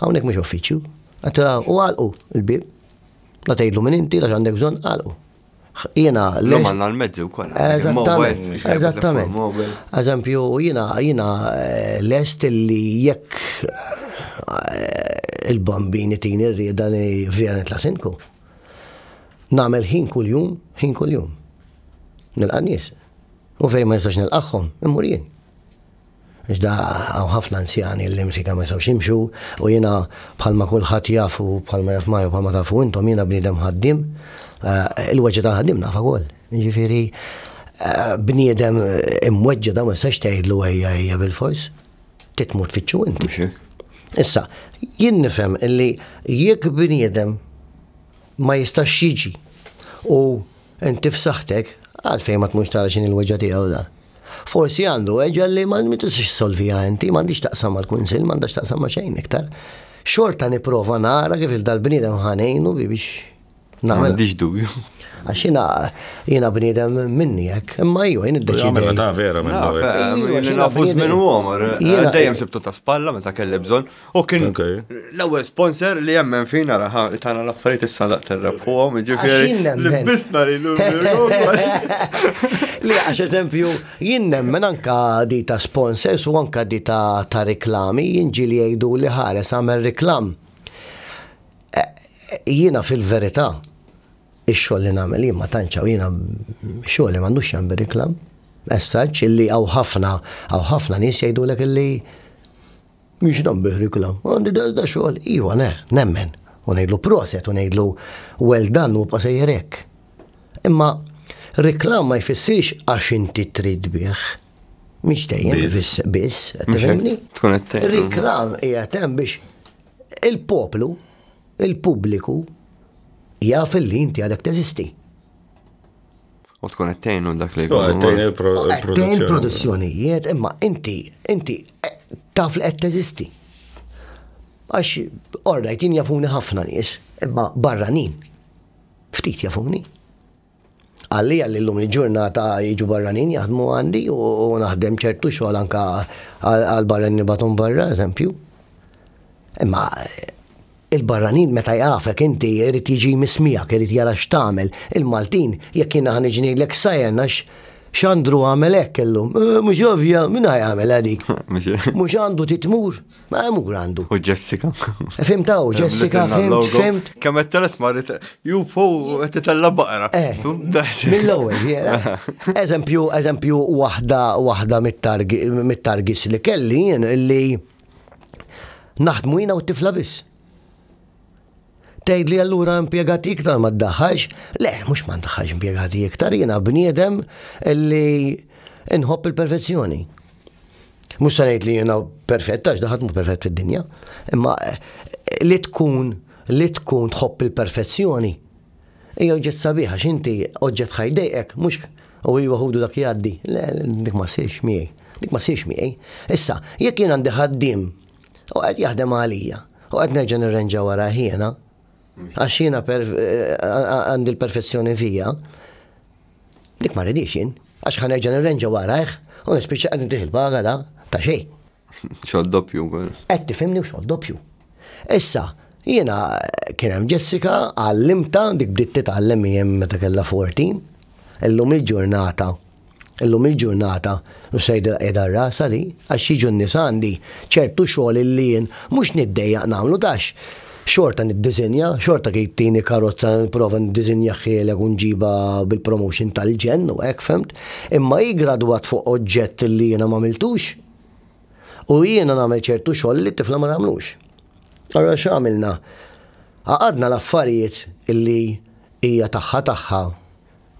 Hawnhekk mhux uffiċċju. U għalqu l-bib. La tgħidlu minn inti, la għandek bżonn, għalqu. Jena. L-lum għanna l-mezzi u koll. Eżattament. Eżempju, jena, jena eh, lest li jekk eh, il-bambini tini rrida li vjenet la sinku. Namel ħin kull-jum, ħin kull-jum. Nil-qanis. U fej ma nistax nil-qaxħom, immur jien. Iżda hawn ħafna anzjani li msika ma jistgħux jimxu u jiena bħalma kulħadd jaf u bħalma jaf Mario bħalma tafu intom jiena bniedem ħaddiem eh, il-weġġa tal-ħaddiem nafa wkoll. Jiġifieri eh, bniedem imweġġa da ma jistax tgħidlu ejja ejja bil-fors. Titmut fitxu inti. Issa, jien nifhem illi jekk bniedem ma jistax jiġi u Inti f'saħħtek, għalfejn ma tmurx tara x'inhi l-weġgħa tiegħu dan? Forsi għandu weġgħa li ma tistax issolviha inti, m'għandix taqsam mal-kunsill, m'għandax taqsam ma' xejn iktar. Xorta nipprova nara kif il-dal-bniedem ħanejnu biex nagħmel. M'għandix dubju. Għax jina, jina bnidem minni jek, imma ju, jina d-deċi. Għamil ta' vera minn dawe. Jina nafuż minn u għomor, dajem sibtu ta' spalla, meta kelli bżon, U kien l-ewwel sponsor li jemmen fina raħa li tana l-affarijiet issa daq terrebħuhom, ġifieri li bisna li Li għax eżempju, jien nemmen anka di ta' sponsors u anka di ta' ta' reklami, jien ġili jgħidu li ħares għamel reklam. E, e, jiena fil-verità, ix-xogħol li nagħmel jien ma tantxaw jiena xogħol li m'għandux jagħmel reklam. Essaġġ illi għaw ħafna, għaw ħafna nies jgħidulek illi Mhix dan bih riklam. Għandi da xogħol, iva, ne, nemmen. U ngħidlu proset, u ngħidlu well done u pasejjer hekk. Imma riklam ma jfissirx għax inti trid bih. Mhix dejjem biss, biss, tifhimni? Tkun qed Riklam hija hemm biex il-poplu, il-pubbliku jaf li inti għadek teżisti. U tkun qed tgħinu dak li jkun. Tgħin il-produzzjonijiet, imma inti inti eh, taf li qed teżisti. Għax orrajt jien jafuni ħafna nies, imma barranin. Ftit jafuni. Għalli għalli l-lum il-ġurnata jiġu barranin jaħdmu għandi u naħdem ċertu xogħol anka għal barranin batum barra, eżempju. Imma Il-barranin meta jafek inti irid jiġi jmiss miegħek, irid jara x'tagħmel. Il-Maltin, jekk jiena ħa niġi ngħidlek sajen għax Xandru għamel hekk illum. Eh, mhux ovvja, min jagħmel dik? Mhux għandu titmur, ma mur għandu. U Jessica. Fim taw, Jessica, fim, fim. Kemm qed teles marit, ju fuq qed titella baqra. Eh, mill-ewwel, Eżempju, eżempju waħda waħda mit-targis li kelli jien li Naħdmu jina u t-tifla biss. Tgħid li allura impjegati iktar ma ddaħħax, le, mhux ma ndaħħax impjegati iktar, jiena bniedem li nħobb il-perfezzjoni. Mhux se ngħid li jiena perfett għax daħat mhu perfett fid-dinja, imma eh, li tkun li tkun tħobb il-perfezzjoni Hija oġġett sabiħ għax inti oġġett ħaj jdejqek, mhux u iva ħudu dak jgħaddi. Le, dik ma ssirx miegħi. Dik ma ssirx miegħi. Issa, jekk jien għandi ħaddiem u qed jaħdem għalija u qed nerġa' nirrenġa wara jiena, għax jiena għandi l-perfezzjoni fija, dik ma ridix jien, għax ħanerġa' nirrenġa warajh u nispiċċa qed nitih il-paga da ta' xejn. Xogħol doppju wkoll. Qed tifhimni u xogħol doppju. Issa, jiena kien hemm Jessica għallimta dik bdiet titgħallem jien meta kellha 14. Illum il-ġurnata illum il-ġurnata u sejda qiegħda rasa li għax jiġu n-nies għandi ċertu xogħol li jien mhux niddejjaq nagħmlu tax xorta niddizinja, xorta kif tini karozza nipprova niddizinja ħielek u nġiba bil-promotion tal-ġen u hekk femt, imma hi gradwat fuq oġġett li jiena ma miltux. U jiena nagħmel ċertu xogħol li t-tifla ma tagħmlux. Allora x'għamilna? Għaqadna l-affarijiet illi hija tagħha tagħha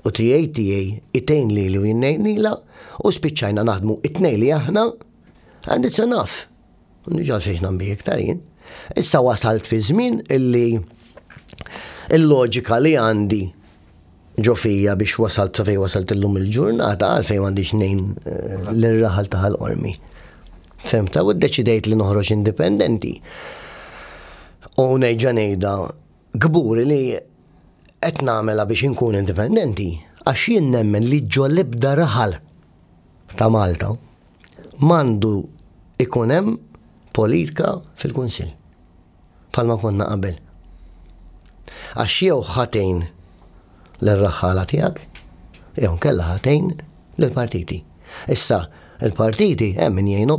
u trijaj tiegħi itejn li u jinnejnila u spiċċajna naħdmu it-tnej li aħna and it's enough. Nġal fejn nambi iktar jien. Issa wasalt fi żmien illi il-loġika li għandi ġo fija biex wasalt sa fejn wasalt illum il-ġurnata għalfejn m'għandix nejn eh, l-raħal ta' ħal-qormi. Femta, u d-deċidejt li noħroġ indipendenti. U nejġa nejda gburi li qed nagħmela biex inkun indipendenti għax jien nemmen li ġo l-ibda raħal ta' Malta mandu ikun hemm politika fil-Kunsill. bħalma konna qabel. Għax jew ħa tgħin lir-raħħala tiegħek, jew inkella ħa tgħin lill-partiti. Issa, il-partiti hemm min jgħinu.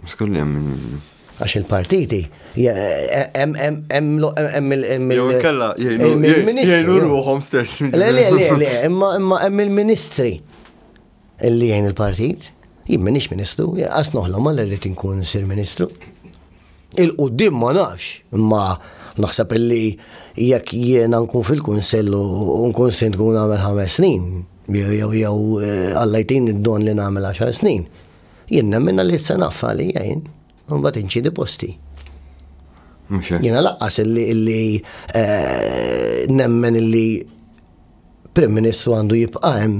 Skolli hemm min jgħinu. Għax il-partiti, jgħinu ruħom stess. Le, le, le, imma hemm il-ministri. Li jgħin il-partit. Jien m'iniex Ministru, qas noħlomha li rrid inkun sir Ministru. Il-qudiem ma nafx, imma naħseb illi jekk jiena nkun fil-Kunsell u nkun Sindku nagħmel ħames snin, jew jew eh, Alla jtini d-don li nagħmel għaxar snin, jien nemmen li se naffa li jgħin, mbagħad inċidi posti. Jiena laqqas illi illi eh, nemmen illi Prim Ministru għandu jibqa' hemm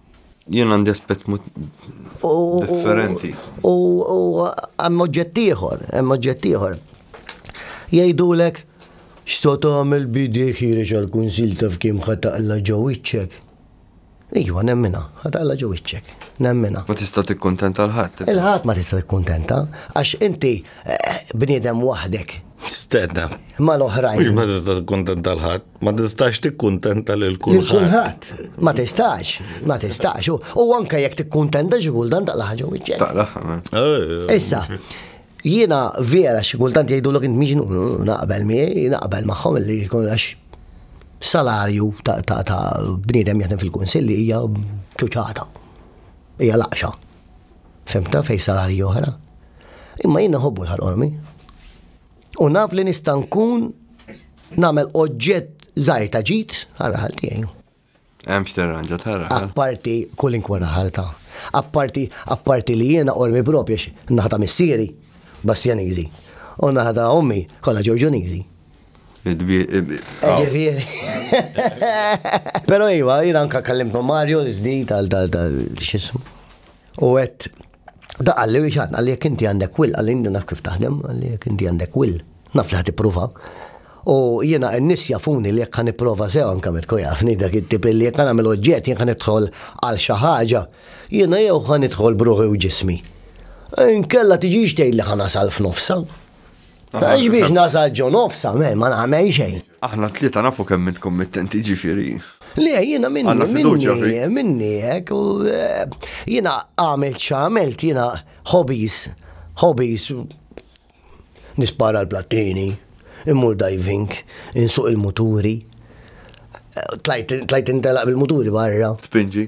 Jien għandi aspett differenti. U hemm oġġett ieħor, hemm oġġett ieħor. Jgħidulek x'ta' tagħmel bidi ħireġ għall-kunsil taf kemm ħataqla ġew iċċek. Iva, nemmina, ħataqla ġew iċċek. Nemmina. Ma tista' tikkuntenta l-ħadd. Il-ħadd ma tista' tikkuntenta għax inti eh, bniedem waħdek. Stedna. Ma l-oħrajn. Ma tista' tikkuntenta l-ħadd. Ma tistax tikkuntenta lil kulħadd. Ma tistax, ma tistax. U anke jekk tikkuntenta xi kultant taqla ħaġa wiċċek. Taqla eh, Issa, jiena vera xi kultant jgħidu l int miġnu mm, naqbel miegħi, naqbel magħhom li jkun għax salarju ta' bniedem jaħdem fil-kunsilli hija ċuċata. Hija laqxa. Femta fej salarju oħra. Imma jiena ħobbu l-ħalqormi. U naf li nista' nkun nagħmel oġġett żgħir ta' ġid għal raħal tiegħi. Hemm x'terranġa ta' raħal. Apparti kull inkwa raħal ta' apparti apparti li jiena qormi propju naħda missieri Bastjaniżi u naħda ommi kollha Ġorġuniżi. Ġifieri. Però iva, jiena anka kellimtu Mario l-ġdid tal-xismu. U għet, da għalli biex għanna li jek inti għandek will, għalli inti naf kif taħdem, għalli jek inti għandek will, naf li ħati prova. U jena n-nis jafuni li jek għan prova sew anka mitku jafni dak it-tip li jek għan għamil oġġet jek għan idħol għal xaħġa, jena jew għan idħol bruħi u ġismi. Nkella tiġiġ tgħid li ħana sal f'nofsa. Taħġ biex nasal ġo nofsa, ma nagħmel xejn. Aħna t-tlieta nafu kemm int kummittenti ġifieri. Le, jiena minni, minni, minni, hekk, u eh, jiena għamil ċamelt, jiena hobbies, hobbies, nispara l-plattini, immur diving, insuq il-muturi, eh, tlajt intelaq bil-muturi barra. Spinġi.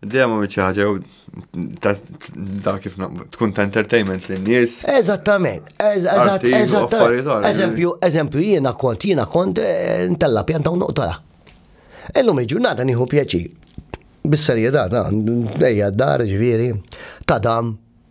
Dejjem għamil xi ħaġa ta' kif tkun ta' entertainment lin nies Eżattament, eżattament. Eżempju, eżempju jiena kont jiena kont eh, ntella pjanta u noqtala. Illum il-ġurnata nieħu pjaċir. Bis-serjetà ta' ejja d-dar ġifieri ta' dam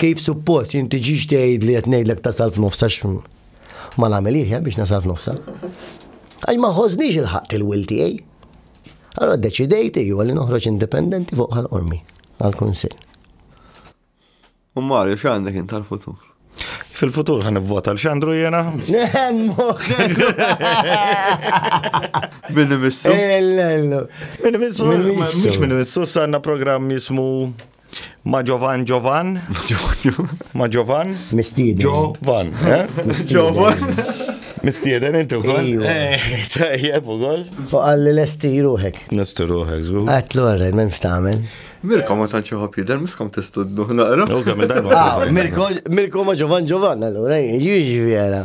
Kif suppost jinti ġiġ tgħid li qed ngħidlek tasal f'nofs għax ma nagħmel iħja biex nasal f'nofsa. Għax ma ħożniex il-ħaqt il-wil tiegħi. Allora deċidejt iju li noħroġ indipendenti fuq għal ormi għal-kunsill. U Mario, x'għandek int tal-futur? Fil-futur ħan vota l-xandru jena? Minni missu? Minni missu? Mux minni missu, sanna program jismu Ma Giovan Giovan. Ma Giovan. Mistieden. Giovan. Giovan. Mistieden inti wkoll. Tajjeb ukoll. U qalli lesti ruħek. Lesti ruħek, żgur. Għatlu għarrej, m'hemmx tagħmel. Mirko ma tantx iħobb jidher miskom tistudnu naqra. Mirko ma Giovan Giovan allura jiġi vera.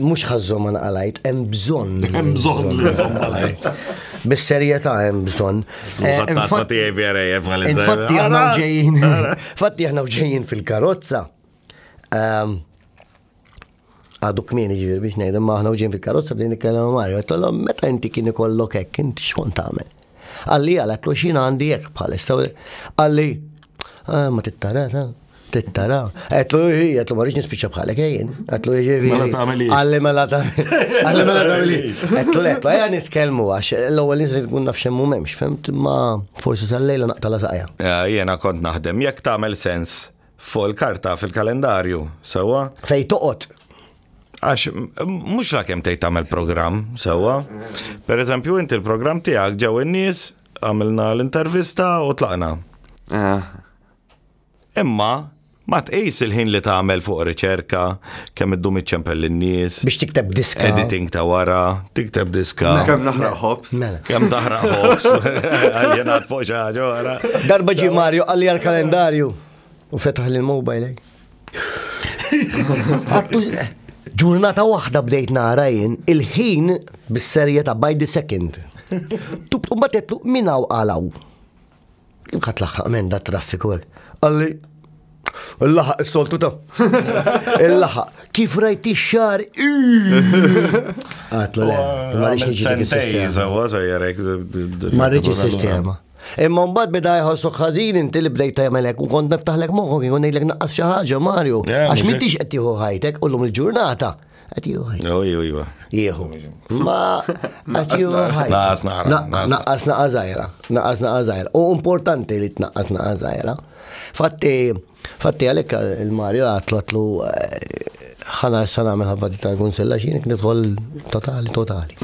Mhux ħażżhom ma naqalajt, hemm bżonn. Hemm bżonn li nżomm malajt. Bis-serjetà hemm bżonn. Mużat Eh, tazza tiegħi vera jef għal Infatti aħna ġejjin, infatti aħna ġejjin fil-karozza. Ehm, Għadu kmieni ġivir biex ngħid, imma aħna ġejjin fil-karozza bdejn nitkellem ma' Mario, għettolhom meta inti kien ikollok hekk, inti xkont tagħmel? Qalli għalek kux jina għandi jek bħalissa. Qalli, ah, ma tittara, ta, tittara. Għetlu jħi, għetlu ma rriġni spiċa bħalek jien. Għetlu jħi jħi. Mela ta' għamili. Għalli mela ta' għalli mela ta' għamili. Għetlu għetlu, għetlu nitkelmu għax l-ewel nizri tkun nafxem mu memx, femt ma forsi sal-lejla naqtala saqja. Jena kont naħdem, jek ta' għamil sens Fuq il-karta, fil-kalendarju, sewwa. Fejn toqgħod. Għax mhux la kemm tgħid tagħmel programm, sewwa. Pereżempju inti l-programm tiegħek ġew in-nies, għamilna l-intervista u tlaqna. Ah. Imma ma tqis il-ħin li tagħmel fuq riċerka, Kemm iddum iċċempel lin-nies. Biex tikteb diska. Editing ta' wara, tikteb diska. Mela. Kemm naħraq ħobs. Mela. Kemm taħraq ħobs. Għaljenat fuq xi ħaġa wara. Darba ġi Mario għalli għal-kalendarju u fetaħ l-mobile. eh. Għattu ġurnata waħda bdejt nara jien il-ħin bis-serjetà by the second. Tub u batetlu minnaw għalaw. Inħat laħħaq men da traffiku għek. Għalli, il-laħaq il-soltu ta' il-laħaq. Kif rajt xar Għatlu le, marriċ il-sistema. Imma mbagħad beda jħossok ħażin inti li bdejt tagħmelek u kont niftaħlek moħħok jkun ngħidlek naqqas xi ħaġa Mario għax m'intix qed tieħu ħajtek u lum il-ġurnata. Jieħu. Ma Naqqas naqazajra. Naqqas naqazajra. U importanti li tnaqqas naqazajra. Fatti, fatti għalek il-Mario għatlu ħana s-sana għamil ħabba tal-kunsella xinik nidħol totali, totali.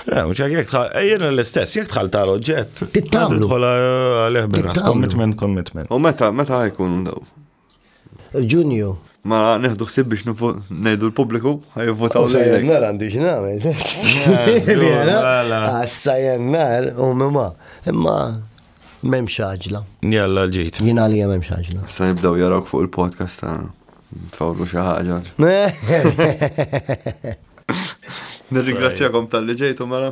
Mux għak jek tħal, jena l-istess, jek tħal tal oġġett. Tittamlu. Tħol għalih bil-ras, commitment, commitment. U meta, meta għajkun daw? Ġunju. Ma neħdu ħsib biex ngħidu l-pubbliku ħajvotaw oh, lejlek. Nar għandi x'nagħmel. Għassa jennar u mimma. Imma m'hemmx xaġla. Jalla l-ġid. Jien għalija m'hemmx xaġla. Sa jibdew jarawk fuq il-podcast ta' tfawlu xi ħaġa. Nirringrazzjakom tal-li ġejtu mela.